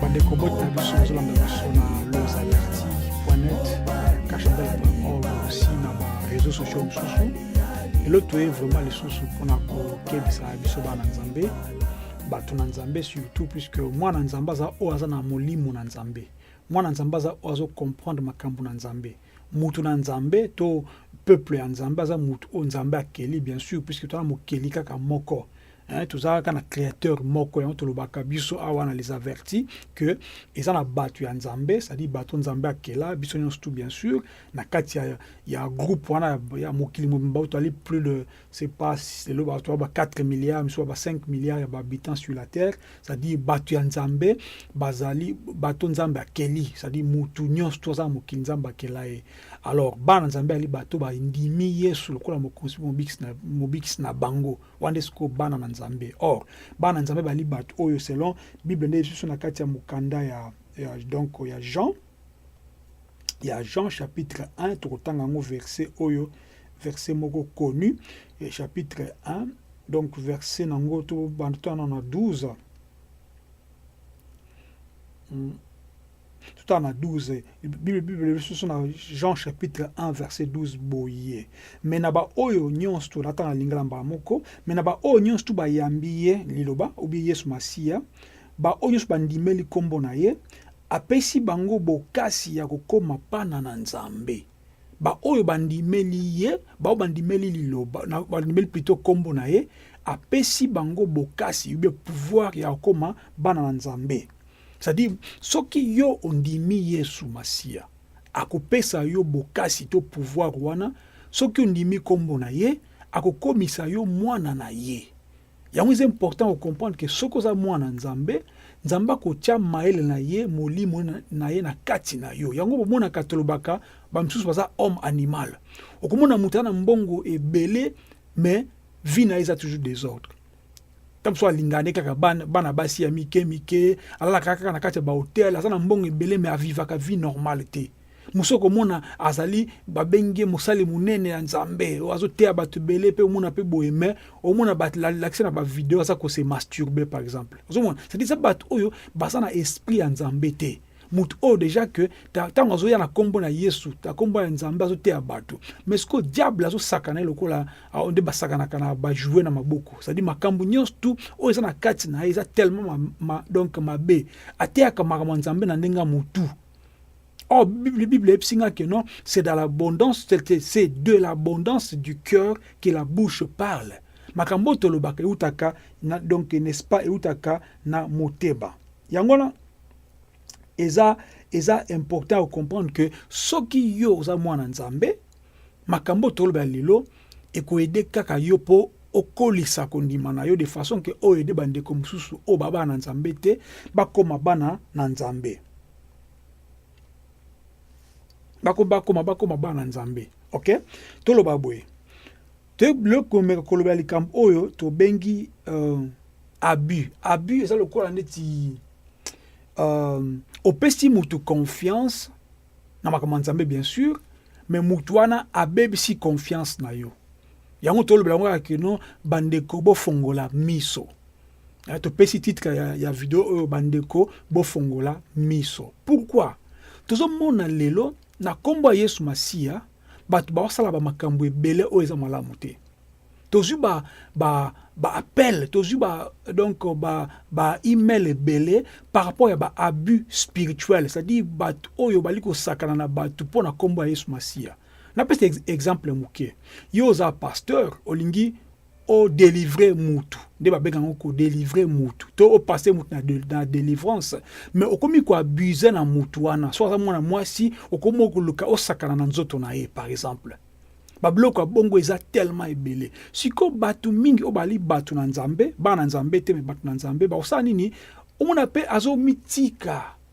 bandeko boti na biso bazolanda biso na losaverti poinet cachandel.org aussi na bareseau sociaux mosusu lelo toye vraiment lisusu mpona kokebisa biso bana nzambe bato na nzambe surtout puisque mwana nzambe aza oyo aza na molimo na nzambe mwana nzambe aza oyo azocomprendre makambo na nzambe mutu na nzambe to peuple ya nzambe aza mutu oyo nzambe akeli bien sûr puisque toza na mokeli kaka moko Hein, tozalaka na créateur moko yango tolobaka biso awa na les avertis que eza na bato ya nzambe cestadire bato nzambe akela biso nyonso tout bien sûr na kati ya, ya groupe wana ya mokili mobimba tozali plus de c'est pas lelo bato ba 4 milliards miso ba 5 milliards ya bahabitants sur la terre cestadire bato ya nzambe bazali bato nzambe akeli cestadire motu nyonso to aza na mokili nzambe akela ye alors bana nzambe ali bato bandimi yesu lokola mokonzi mobikisi na, mobikisi na bango wana nde sikoyo bana na nzambe or bana na nzambe bali bato oyo selon bible nde lisusu na kati ya mokanda ya, ya donc ya jean ya jean chapitre 1 tokotanga yango verset oyo verset moko connu chapitre 1 donc verset na yango tobanda totana na 12 hmm. totala na 12 bible lisusu na jean chapitre 1 verset 12 boye me na baoyo nyonso tolata na lingala mbala moko me na baoyo nyonso tu bayambi ye liloba obi yesu masiya baoyo nyonso bandimeli nkombo na ye apesi bango bokasi ya kokoma pana na nzambe baoyo bandimeli ye baoyo bandimeli liloba bandimeli plito nkombo na ye apesi bango bokasi ube pouvoir ya kokoma bana na nzambe C'est-à-dire, soki yo ondimi Yesu Masiya, akopesa yo bokasi to pouvoir wana, soki ondimi kombo na ye, akokomisa yo mwana na ye. Yango eza important ocomprendre ke soki oza mwana Nzambe, Nzambe akotya mayele na ye, molimo na ye na kati na yo. Yango bomonaka tolobaka bamosusu baza homme animal. Okomona moto aza na mbongo ebele, mais vie na ye eza toujours desordre. ntango mosusu alingaka nde kaka bana, bana basi ya mike mike alalaka kaka na kati ya bahotel aza na mbongo ebele me avivaka vie normale te mosusu okomona azali babengi ye mosali monene ya nzambe oyo azoteya bato ebele mpe omona mpe boye me omona balakisa na bavideo aza kose masturbe par exemple ozomona cetadi eza bato oyo baza na esprit ya nzambe te moto oyo deja ke ntango azoya na nkombo na yesu na nkombo ya nzambe azoteya bato mais sikoyo diable azosakana ye lokola nde basakanaka na bajoue na maboko cestadi makambo nyonso tu oyo eza na kati na ye eza tellement ma, ma, donc mabe ateyaka makambo ya nzambe na ndenge ya motu Or, oh, Bible, Bible epsinga que non, c'est dans l'abondance, c'est de l'abondance du cœur que la bouche parle. Makambo tolobaka eutaka na donc n'est-ce pas eutaka na moteba. yango wana eza eza important ocomprendre que soki yo oza mwana nzambe makambo oyo tolobela lelo ekoede kaka yo mpo okolisa kondima na yo de façon ke oyo ede bandeko mosusu oyo babana na nzambe te bakoma bana na nzambe bakoma bakoma bana na nzambe ok toloba boye Toyebi komeka kolobela likambo oyo tobengi uh, abus. Abus eza lokola neti uh, opesi mutu confiance na makambo ya Nzambe bien sûr, mais mutu wana abebisi confiance na yo. Yango tolobela yango kaka kino bandeko bofongola miso. Eh, topesi titre ya, ya video oyo bandeko bofongola miso. Pourquoi? Tozomona lelo na nkombo ya Yesu Masiya bato baosala bamakambo ebele oyo eza malamu te tozwi ba, ba, ba appel tozwi ba, donc ba, ba email ebele par rapport ya ba abus spirituel c'est-à-dire bato oyo bali kosakana na bato mpo na nkombo ya yesu masiya napesa exemple moke yo oza pasteur olingi o delivrer mutu nde babenga yango ko delivrer mutu to o passer mutu na, de, na delivrance mais okomi ko abuser na mutu wana so aza mwana mwasi okomi okoluka osakana na nzoto na ye par exemple babiloko ya bongo eza tellement ebele siko bato mingi oyo bali bato na nzambe bana na nzambe te me bato na nzambe bakosala nini omona mpe azomitika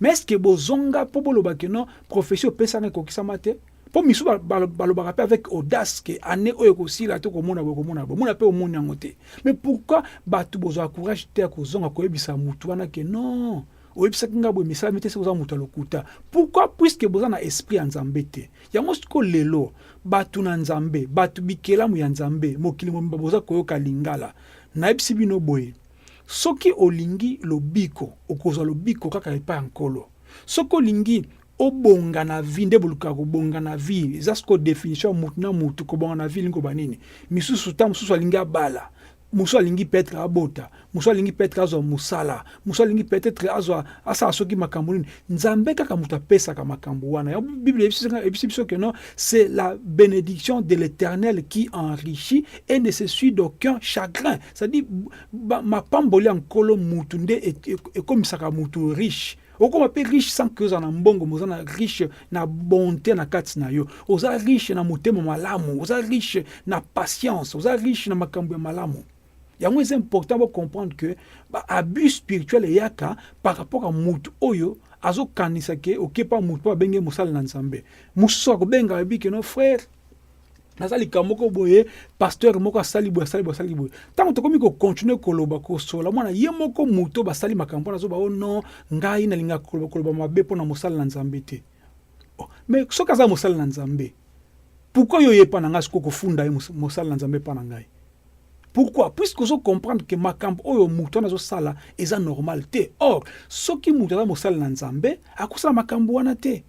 Mais est-ce que bozonga po boloba que non prophetie opesaka ekokisama te po misu balobaka pe avec audace que année oyo ekosila to komona boye komona boye mona pe omoni yango te mais pourquoi bato bozwa courage te ya kozonga koyebisa motu wana que non oyebisaki ngai boye misalami te soki oza moto ya lokuta pourquoi puiske boza na esprit ya nzambe te yango siko lelo bato na nzambe bato bikelamu ya nzambe mokili mobimba boza koyoka lingala nayebisi bino boye Soki olingi lobiko, okozwa lobiko kaka epai ya Nkolo. Soki olingi obonga na vie, nde bolukaka kobonga na vie, eza siko definition ya mutu na mutu, kobonga na vie elingi koba nini? Misusu ta mususu alingi abala, mususu alingi peut-etre abota, mususu alingi peut-etre azwa musala, mususu alingi peut-etre azwa asala soki makambo nini, Nzambe kaka moto apesaka makambo wana. Ya Biblia ebisi biso que non, c'est la bénédiction de l'Éternel qui enrichit et ne se suit d'aucun chagrin. C'est-à-dire mapamboli ya nkolo mutu nde e, e, ekomisaka mutu riche okoma mpe riche sans que oza na mbongo moza na riche na bonté na kati na yo oza riche na motema malamu oza riche na patience oza riche na makambo ya malamu yango eza important bo comprendre que ba abus spirituel eyaka par rapport à mutu oyo azokanisa ke okepa mutu mpo abenge mosala na nzambe mosusu akobenga ayebi ke no frère naza likambo moko boye pasteur moko asali boye asali boye asali boye ntango tokomi kokontinue koloba kosola mwana ye moko moto basali makambo wana azoba o oh non ngai nalingaka koloba koloba mabe mpo na mosala na nzambe te oh, mais soki aza mosali na nzambe pourquoi yo oye epa na ngai sikoyo kofunda ye mosali na nzambe epa na ngai pourquoi puisque ozo comprendre ke makambo oyo moto wana azosala eza normal te or soki moto aza mosali na nzambe akosala makambo wana te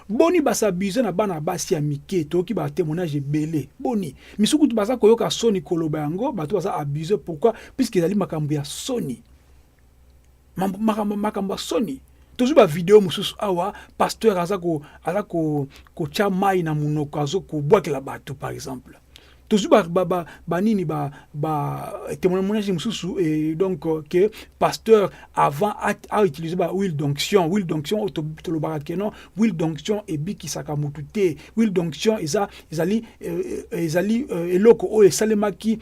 boni basabuse na bana basi ya mike toyoki batemoignage ebele boni misusu kutu baza koyoka soni koloba yango bato baza abuse pourquoi puisque ezali makambo ya soni makambo makambo ya soni tozwi bavideo mosusu awa pasteur aza aza kotya mai na monoko azo kobwakela bato par exemple tozwi banini batemoignage mosusu e, donc ke pasteur avant autilise ba huile d'onction huile d'onction oyo tolobaka keno huile d'onction ebikisaka motu te huile d'onction eza ezali euh, euh, ezali euh, eloko oyo esalemaki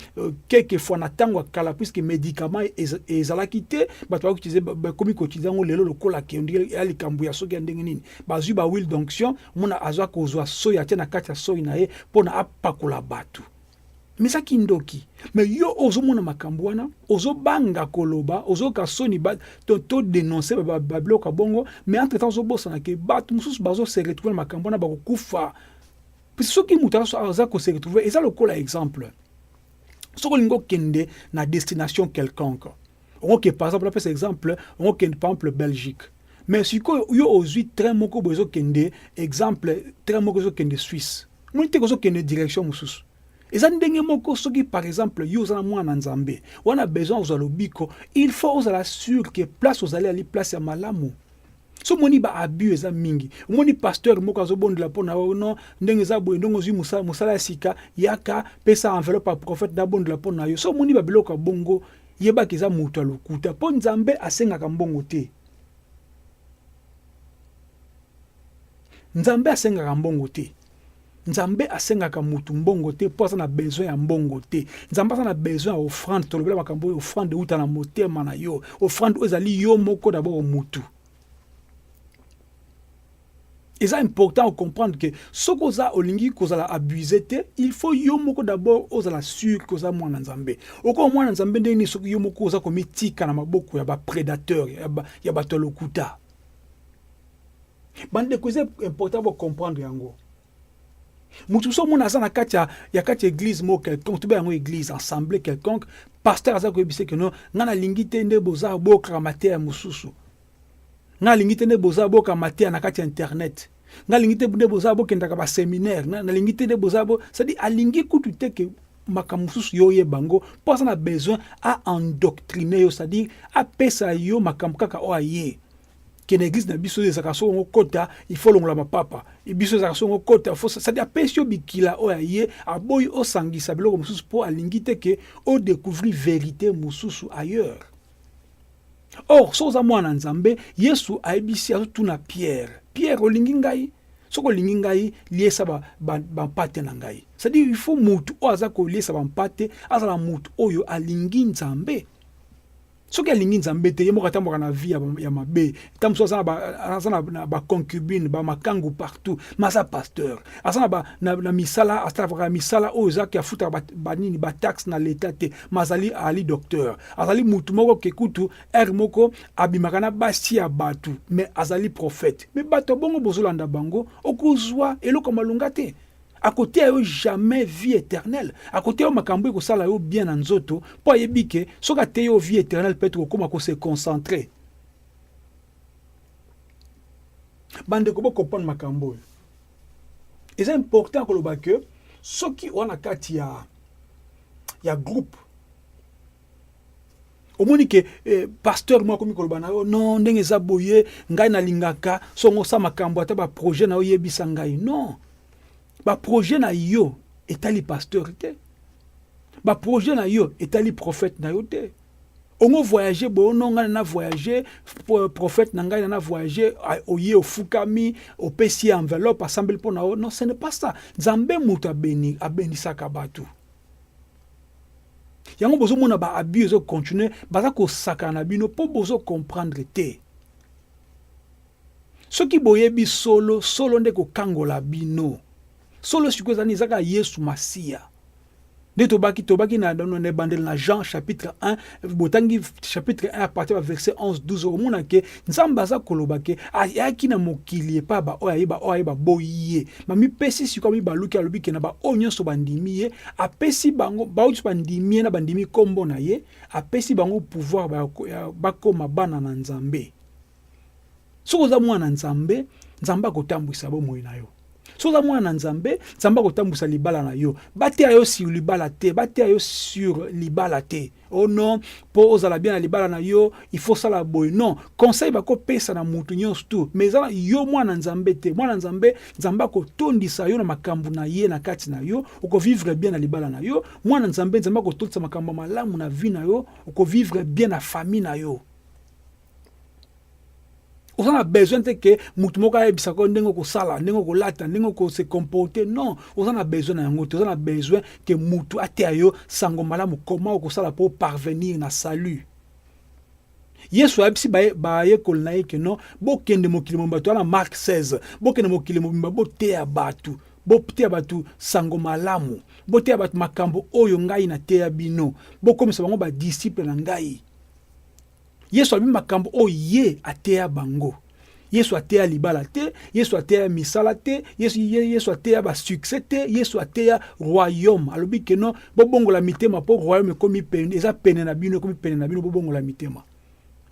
quelque fois na ntango ya kala puisque médicament ezalaki te bato bakoutilize bakomi koutilize yango lelo lokola ke ya likambo ya soki ya ndenge nini bazwi ba huile d'onction omona azwa kozwa soi atie na kati ya soi na ye mpo na apakola bato Mais ça kindoki. Mais yo ozo mona makambo wana, ozo banga koloba, ozo ka soni ba to, to denoncer ba, ba bloka bongo, mais entre temps ozo bosana ke bato mususu bazo se retrouver na makambo wana bako kufa. Puis soki mutu aza ko se retrouver eza lokola exemple. Soki olingo kende na destination quelconque. Okoke par exemple, napesa exemple, okende par exemple Belgique. Mais sikoyo yo ozui train moko bozo kende exemple, train moko ezo kende Suisse. moni te kozokende direction mosusu eza ndenge moko soki par exemple yo oza na mwana nzambe wana besoin ozwa lobiko il faut ozala sur ke place ozali ali place ya malamu so omoni ba abus eza mingi omoni pasteur moko azobondela mpo na yo non ndenge eza boye ndenge ozwi mosala, mosala ya sika yaka pesa enveloppe ya prophète nabondela mpo na yo so omoni babiloko ya bongo yebaki eza moto ya lokuta mpo nzambe asengaka mbongo te Nzambe asengaka mbongo te. Nzambe asengaka mutu mbongo te mpo aza na besoin ya mbongo te. Nzambe aza na besoin ya offrande. Tolobela makambo oyo offrande euta na motema na yo. Offrande oyo ezali yo moko d'abord mutu. Eza important o comprendre que soki oza olingi kozala abuse te, il faut yo moko d'abord ozala sur que oza mwana Nzambe. Okoma mwana Nzambe ndenge nini soki yo moko oza komitika na maboko ya ba predateurs ya bato ya lokuta. bandeko eza important bocomprendre yango moto mosusu omona aza na kati ya, ya kati ya église moko quelconque tobe yango église ensemble quelconque pasteur aza koyebisa ke no ngai nalingi te nde boza boyoka mateya mosusu ngai nalingi te nde boza boyoka mateya na kati ya internet nga lingi te nde boza bokendaka ba seminaire na nalingi te nde boza bo c'est à alingi kutu te ke makambo mosusu yo oyeba yango mpo aza na besoin a endoctrine yo c'est-à-dire apesa yo makambo kaka oyo aye kende eglise na biso ezalaka soko yango kota ifo olongola mapapa e biso ezalaka soko yango kota fo sadi apesi yo bikila oyo aye aboyi osangisa biloko mosusu mpo alingi te ke odecouvrir verité mosusu ailleurs Or soki oza mwana Nzambe, Yesu ayebisi azotuna Pierre, Pierre olingi ngai? soki olingi ngai liesa bampate ba, ba na ngai cestadire il faut motu oyo aza koliesa bampate azala motu oyo alingi nzambe soki alingi nzambe te ye moko atambwaka na vie ya mabe ta mosusu aza na baconcubine bamakangu partout ma aza pasteur aza na, na, na misala asalaka misala oyo ezaki afutaka banini ba bataxe na leta te mazali ali docteur azali mutu moko ke kutu heure moko abimaka na basi ya batu me azali prophète me bato ya bongo bozolanda bango okozwa eloko malonga te akoteya yo jamais vie éternelle akoteya yo makambo ekosala yo bien na nzoto mpo ayebi ke soki ateyi yo vie éternelle peut-être okokoma ko se concentrer bandeko bokopana makambo oyo eza important koloba ke soki oza na kati ya, ya groupe omoni ke eh, pasteur moko akomi koloba na yo non ndenge eza boye ngai nalingaka songo sa makambo ata baprojet na yo yebisa ngai non baprojet na yo etali pasteur te baprojet na yo etali prophète na yo te ongo voyage bono ngai na voyage prophète na ngai na voyage oye ofukami opesi enveloppe asambeli mpo na yo non ce n'est pas ça nzambe moto abeni abenisaka bato yango bozomona ba abus ezo continuer baza kosakana na bino mpo bozo comprendre te soki boyebi solo solo nde kokangola bino solo sikoyo ezali ezaka yesu masiya nde tobaki tobaki na ebandeli na jean chapitre 1 botangi chapitre 1 apartir ya verset 11 12 okomona ke nzambe aza koloba ke ayaki na mokili epai baoyo aye baoyo aye baboyi ye mamipesi sikoyo mibaluki alobi ke na baoyo nyonso bandimi ye apesi bango baoyo nyonso bandimi ye na bandimi nkombo na ye apesi bango pouvoir bakoma bana na nzambe Soki oza mwana Nzambe, Nzambe akotambwisa bomoi na yo. Soki oza mwana Nzambe, Nzambe akotambwisa libala na yo. Bateya yo sur libala te, bateya yo sur libala te. Oh non, po ozala bien na libala na yo, il faut sala boye. Non, conseil bakopesa na mutu nyonso tu, mais eza yo mwana Nzambe te. Mwana Nzambe, Nzambe akotondisa yo na makambo na ye na kati na yo, okovivre bien na libala na yo. Mwana Nzambe, Nzambe akotondisa makambo malamu na vie na yo, okovivre bien na famille na yo. oza na besoin te ke motu moko ayebisa ko ndenge okosala ndenge okolata ndenge okose comporte non oza na besoin na yango te oza na besoin ke motu ateya yo sango malamu koma okosala mpo parvenir na salut yesu ayebisi bayekoli na ye ke non bokende mokili mobimba toya na mark 16 bokende mokili mobimba boteya bato boteya bato sango malamu boteya bato makambo oyo ngai nateya bino bokomisa bango badisiple na ngai Yesu alobi makambo oyo ye ateya bango. Yesu ateya libala te, Yesu ateya misala te, Yesu, Yesu ateya ba succès te, Yesu ateya royaume. Alobi que non, bobongola mitema po royaume ekomi pene, eza pene na bino, ekomi pene na bino, bobongola mitema.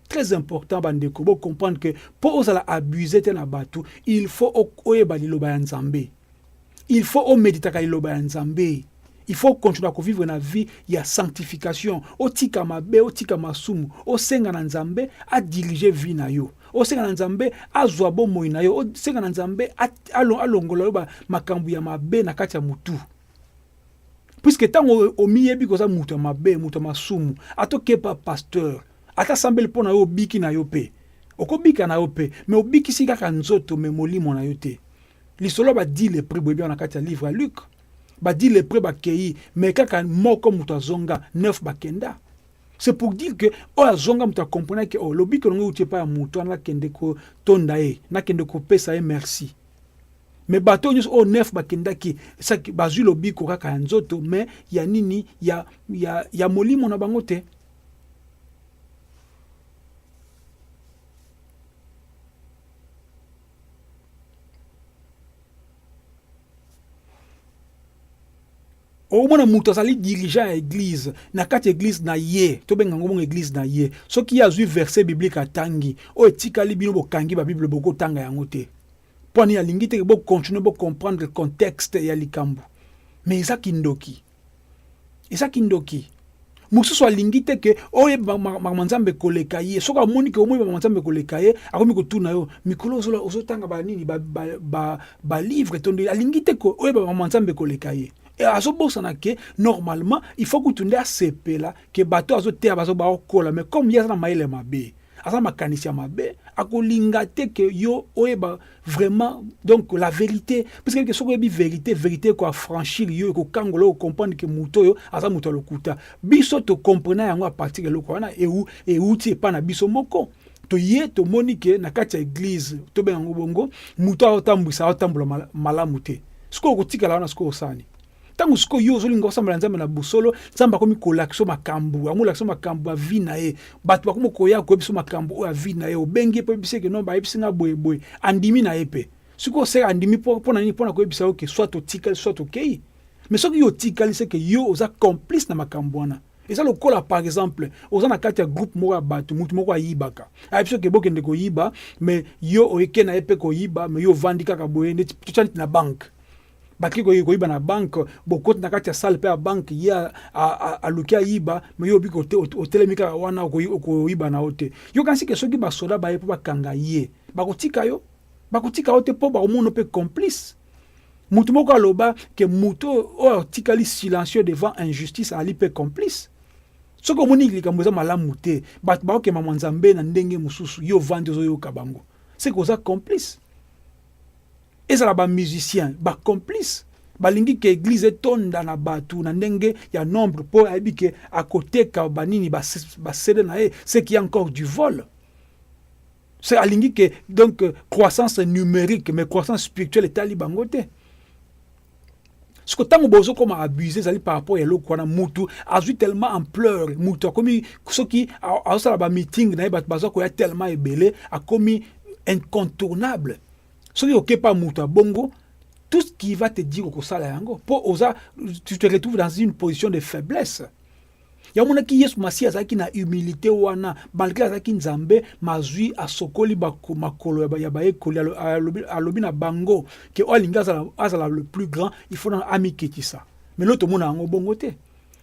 Très important bandeko, bo comprendre que po ozala abusé te na batu, il faut oyeba liloba ya Nzambe. il faut o meditaka liloba ya Nzambe il faut continuer ko vivre na vie ya sanctification otika mabe otika masumu osenga na Nzambe a diriger vie na yo osenga na Nzambe azwa bomoi na yo osenga na Nzambe alongola yo makambo ya mabe na kati ya mutu puisque ntango omiyebi koza moto ya mabe moto ya masumu ata okepa pasteur ata sambeli mpo na yo obiki na yo mpe okobika na yo mpe me obikisi kaka nzoto me molimo na yo te lisolo ba dit le prix boyebi na kati ya livre ya Luc ba dit le prix bakei mais kaka moko moto azonga neuf bakenda c'est pour dire que oyo azonga moto akomprena ke o oh, lobiko longo euti epai ya moto wana nakende kotonda ye nakende kopesa ye merci me bato nyonso oyo nef bakendaki saki bazwi lobiko kaka ya nzoto me ya nini ya, ya, ya molimo na bango te okomona moto azali dirigeant ya eglise na kati ya eglise na ye tobenga yango bongo eglise na ye soki ye azwi verset biblique atangi oyo etikali bino bokangi babible bokotanga yango te mpo ani alingi te bocontinue bocomprendre contexte ya likambo mais eza kindoki eza kindoki mosusu alingi te ke oyeba makambo ya nzambe koleka ye soki amoni ke omoyeba makambo nzambe koleka ye akomi kotuna yo mikolo ozotanga banini balivre ba, ba, ba tondo alingi te ke oyeba makambo ya nzambe koleka ye eh, azobosana ke normalement il faut kutu nde asepela ke bato azoteya bazo baokola mais comme ye aza na mayele mabe aza makanisi ya mabe akolinga te ke yo oyeba vraiment donc la vérité parce que soki oyebi vérité vérité ekoafranchir yo ekokangola yo okomprendre ke moto oyo aza moto ya lokuta biso tokomprena yango a partir ya eloko wana euti epai na biso moko toye tomoni ke na kati ya eglize tobenga yango bongo moto aotambwisa aotambola malamu te sikoyo okotikala wana sikoyo osani ntango sikoyo yo ozolinga osambela nzambe na bosolo nzambe akomi kolakisa makambo yango olakisa makambo ya vi na ye bato bakomi koya koyebisa makambo oyo ya vi na ye obengi ye mpo oyebisi eke no bayebisi nga boyeboye andimi na ye mpe sikoyo seka andimi mpo na nini mpo na koyebisa yo ke soit totikali soit tokei mais soki yo otikali seke yo oza complice na makambo wana eza lokola par exemple oza na kati ya groupe moko ya bato motu moko ayibaka ayebi soki bokende koyiba mais yo oyeke na ye mpe koyiba mais yo ovandi kaka boye neti totya neti na banke baki koyei koyiba na banke bokoti na kati ya sale mpe ya banke ye aluki ayiba me yo obiki otelemi kaka wana okoyiba na yo te yo kasi ke soki basoda baye mpo bakanga ye bakotika yo bakotika yo te mpo bakomono mpe complice motu moko aloba ke motu oyo atikali silencieux devant injustice ali mpe complice soki omoni likambo eza malamu te bato bakokema mwa nzambe na ndenge mosusu yo ovandi ozoyoka bango seke oza complice Ezala ba musiciens ba complices balingi ke eglise etonda na batu na ndenge ya nombre po ayebi ke akoteka ba nini ba, ba CD na ye ce qui est encore du vol c'est alingi ke donc croissance numérique mais croissance spirituelle etali bango te siko ntango bozokoma abuse ezali par rapport ya eloko wana mutu azwi tellement ampleur mutu akomi soki azosala bameeting na ye bato baza koya tellement ebele akomi incontournable soki oke pa moto ya bongo tout ce qui va te dire okosala yango mpo oza tu te retrouve dans une position de faiblesse ya omonaki yesu masiya azalaki na humilité wana malgre azalaki nzambe mazwi asokoli makolo ya bayekoli alobi na bango ke oyo alingi azala, azala le plus grand il faut amikitisa mais lelo tomona yango bongo te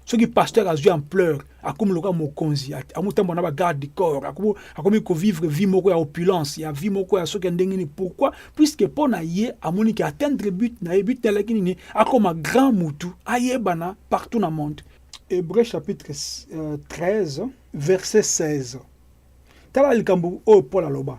soki pasteur azwi ampleur akomi lokola mokonzi amotambola na bagarde du corps akomi kovivre vie moko ya opulence ya vie moko ya soki ya ndenge nini pourquoi puisque mpo na ye amoni ke atteindre but na ye but na alaki nini akoma grand mutu ayebana partout na monde hébreu chapitre 13 euh, verset 16 tala likambo oyo paul aloba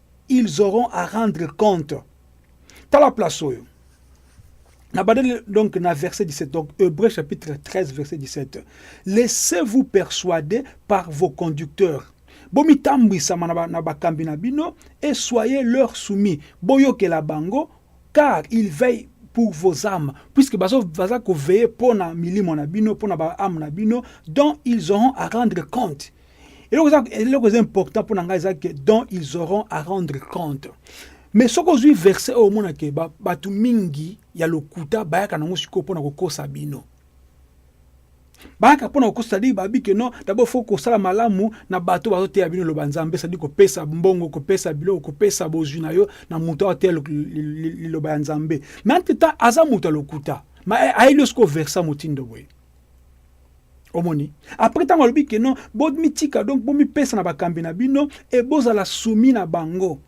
ils auront à rendre compte tala place oyo na badeli donc na verset 17 donc Hébreu chapitre 13 verset 17 laissez-vous persuader par vos conducteurs bomitambwisama na bakambi na bino et soyez leur soumis boyokela bango car ils veillent pour vos âmes, puisque bazo baza ko veiller pona milimo na bino, pona ba âme na bino, dont ils auront à rendre compte. eloko eza important mpo na ngai eza ke dont ils auront à rendre compte mais soki ozwi verset oyo omona ke bato mingi ya lokuta bayaka nango sikoyo mpo na kokosa bino bayaka mpo na kokosa sadiki babi ke non dabord fo kosala malamu na bato bazoteya bino loba nzambe sadi kopesa mbongo kopesa biloko kopesa bozwi na yo na moto aoteya liloba ya nzambe mais entre temps aza moto ya lokuta ma ayeli yo sikoyo versa motindo boye omoni après ntango alobi ke non bomitika donc bomipesa na bakambi na bino e bozala sumi na bango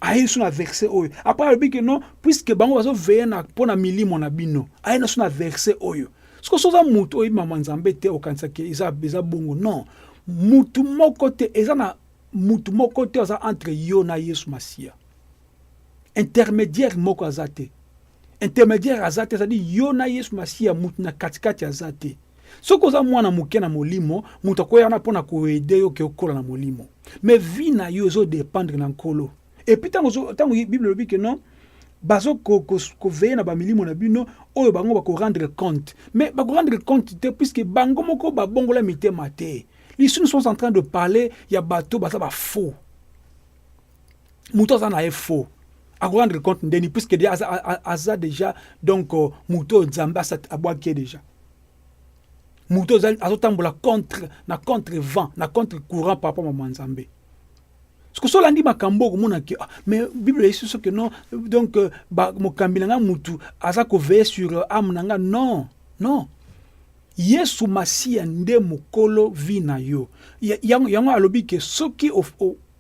aye lisusu na verse oyo après alobi ke non puiske bango bazoveye na mpo na milimo na bino aye na lisusu na verse oyo soki soza motu oyebi mama nzambe te okanisaki eza, eza bongo non mutu moko te eza na mutu moko te aza entre yo na yesu masiya intermediaire moko aza te intermediaire aza te ezali yo na yesu masiya motu na katikati aza te soki oza mwana moke na molimo moto akoya wana mpo na koede yo ke okola na molimo me vie na yo ezodependre na nkolo epuis ntango bible elobi ke non bazo ko, ko, ko veiller na bamilimo na bino oyo bango bako rendre compte mais bako rendre compte te puisque bango moko babongola mitema te lisusu nous sommes en train de parler ya bato baza bafaux moto aza na ye faux akorendre compte ndeni puisque de aza, aza déjà donc euh, moto oyo nzambe abwaki ye déjà moto azotambola contre na contre vent na contre courant par rapport mama nzambe soki so olandi makambo okomona ke ah, mais bible eyesi soki non donc euh, mokambi na ngai motu aza koveye sur euh, ame na ngai non non Yesu masiya nde mokolo vie na yo yango yango alobi ke soki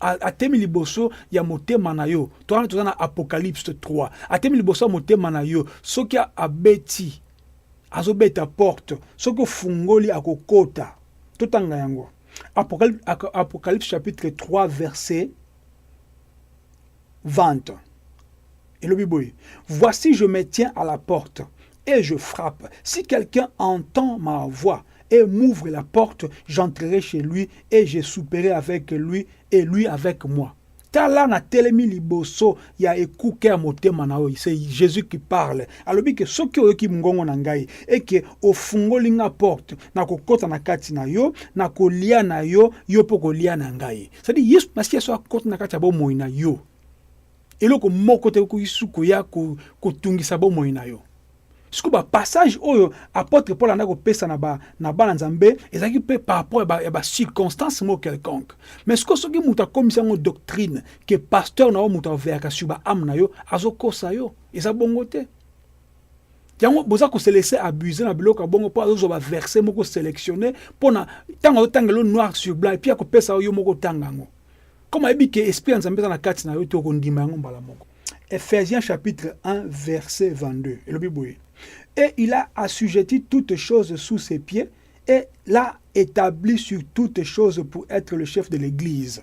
atemi liboso ya motema na yo to wana toza na apocalypse 3 atemi liboso ya motema na yo soki abeti azobeta porte soki ofungoli akokota totanga yango apocalypse chapitre 3 verset vente elobi boye voici je me tiens à la porte et je frappe si quelqu'un entend ma voix et m'ouvre la porte j'entrerai chez lui et je souperai avec lui et lui avec moi tala na telemi liboso ya ekuke ya motema na yo c'est jésus qui parle alobi ke soki oyoki mongongo na ngai eke ofungoli nga porte na kokota na kati na yo na kolia na yo yo mpo kolia na ngai cetadi yesu masiya so akoti na kati ya bomoi na yo eloko moko te okoki su koya kotungisa bomoi na yo siko bapassage oyo apotre paul andaki kopesa na bana nzambe ezalaki mpe par rapport ya bacirconstance moko quelconque mais siko soki moto akomisi yango doctrine ke pasteur na yo moto aveyaka sur baame na yo azokosa yo eza bongo te yango boza kose laisser abuser na biloko ya bongo mpo azozwa baverse moko sélectionné mpo na ntango azotangela yo noir sur blanc epuis akopesa yo moko otanga yango comme ayebi ke esprit ya nzambe eza na kati na yo te okondima yango mbala moko ephésiens chapitre 1 verset 22 elobi boye et il a assujetti toutes choses sous ses pieds et l'a établi sur toutes choses pour être le chef de l'église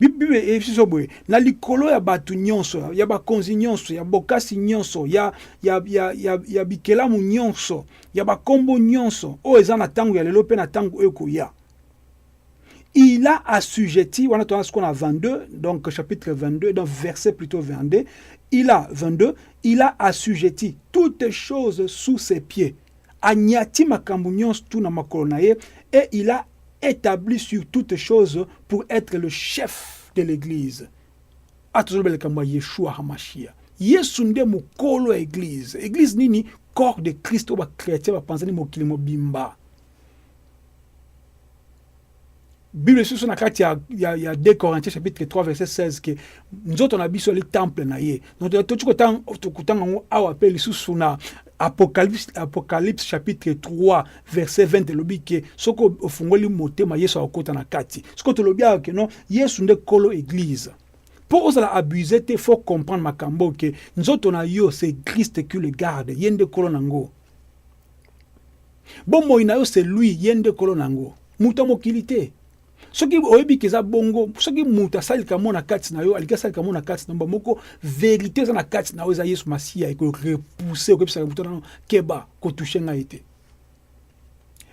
Biblia eyebisi biso boye, na likolo ya bato nyonso, ya bakonzi nyonso, ya bokasi nyonso, ya, ya, ya, ya, ya bikelamu nyonso, ya bakombo nyonso oyo eza na ntango ya lelo mpe na ntango oyo ekoya il a assujetti, on a ce qu'on a 22, donc chapitre 22, donc verset plutôt 22, il a 22, il a assujetti toutes choses sous ses pieds. Anyati makambo tout na makolo na ye et il a etabli sur toute chose pour etre le chef de l'eglise atozoloba likambo ya yeshua hamashia yesu nde mokolo ya eglise eglise nini corps de christ oyo bachrétien bapanzani mokili mobimba bible lisusu na kati ya, ya, ya 2 corinthiens chapitre 3 verset 16 ke nzoto na biso ali temple na ye donc tokoki kotanga yango awa mpe lisusu na Apocalypse, Apocalypse chapitre 3 verset 20 elobi ke soki ofungoli motema Yesu akokota na kati. Soki tolobi awa ke non Yesu nde kolo eglise. Mpo ozala abuse te, faut comprendre makambo ke nzoto na yo c'est Christ qui le garde, ye nde kolo nango. Bomoi na yo c'est lui, ye nde kolo nango. Moto ya mokili te. soki oyebi ke eza bongo soki moto asali likambo na kati na yo alingi asali likambo na kati na mba moko verité eza na kati na yo eza yesu masiya ekorepousse okebisaka moto nano keba kotouche ngai te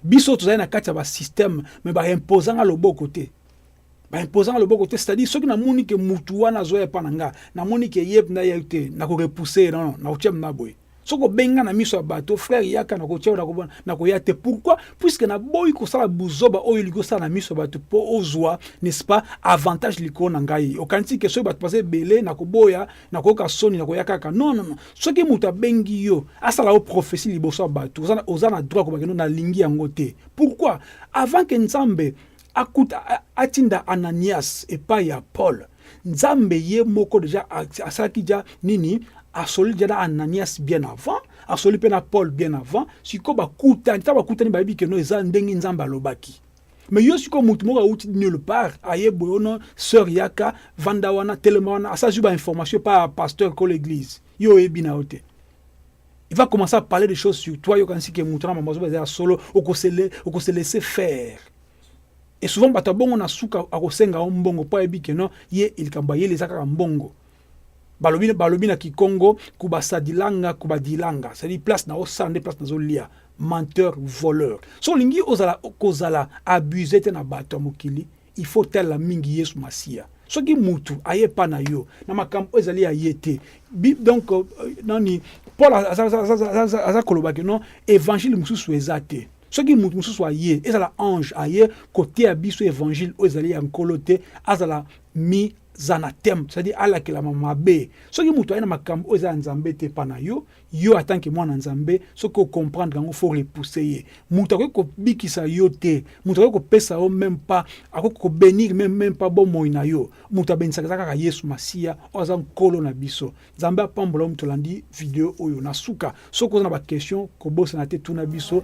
biso tozali na kati ya basystème me baimposa nga loboko te baimposa nga loboko te c'est-à-dire soki namoni ke motu wana azoya epa na nga namoni ke ye mpenza ye te nakorepousse ye nono nakotia mna boye soki obenga na miso ya bato frere yaka na kotia nakobona na koya te pourquoi puiske naboyi kosala buzoba oyo olingi osala na miso ya bato mpo ozwa n'est-ce pas avantage likolo na ngai okanisi ke soki bato baza ebele na koboya na koyoka soni na koya kaka non non non soki moto abengi yo asala yo prophesie liboso ya bato oza na droit kobakendo nalingi yango te pourquoi avant ke nzambe akuta atinda Ananias epai ya Paul. Nzambe ye moko deja asalaki ja nini? Asoli deja na Ananias bien avant, asoli mpe na Paul bien avant. Sikoyo bakutani, ntango bakutani bayebi keno eza ndenge Nzambe alobaki. Me yo sikoyo motu moko auti nulle part aye boye ono sœur yaka vanda wana telema wana asazwi ba information pa pasteur kolo eglise yo oyebi na yo te Il va commencer à parler des choses sur toi, yokanisi ke mutu na mama zoba eza solo, okosele okose laisser faire. Et souvent bato bongo na suka akosenga o mbongo po ayebi ke non ye likambo ayeli eza kaka mbongo. Balobi balobi na Kikongo kubasadilanga kubadilanga, c'est-à-dire place na osala nde place nazolia. Menteur, voleur. So olingi ozala kozala abuse te na bato ya mokili, Il faut otalela mingi Yesu Masiya. Soki mutu aye epa na yo na makambo oyo ezali ya ye te, Bi- donc euh, nani Paul aza- aza- aza- aza- aza- aza koloba ke non evangile mosusu eza te. Soki mutu mosusu aye, ezala ange aye koteya biso evangile oyo ezali ya Nkolo te, azala mis anathème, c'est-à-dire alakelama mabe. Soki mutu aye na makambo oyo eza ya Nzambe te epa na yo, yo en tant que mwana nzambe soki ocomprendre yango faut repousser ye moto akoki kobikisa yo te moto akoki kopesa yo meme pas akoki kobenir meme meme pas bomoi na yo moto abenisaka eza kaka yesu masiya oyo aza nkolo na biso nzambe apambola yo moto olandi video oyo na suka soki oza na baquestion kobosana te tuna biso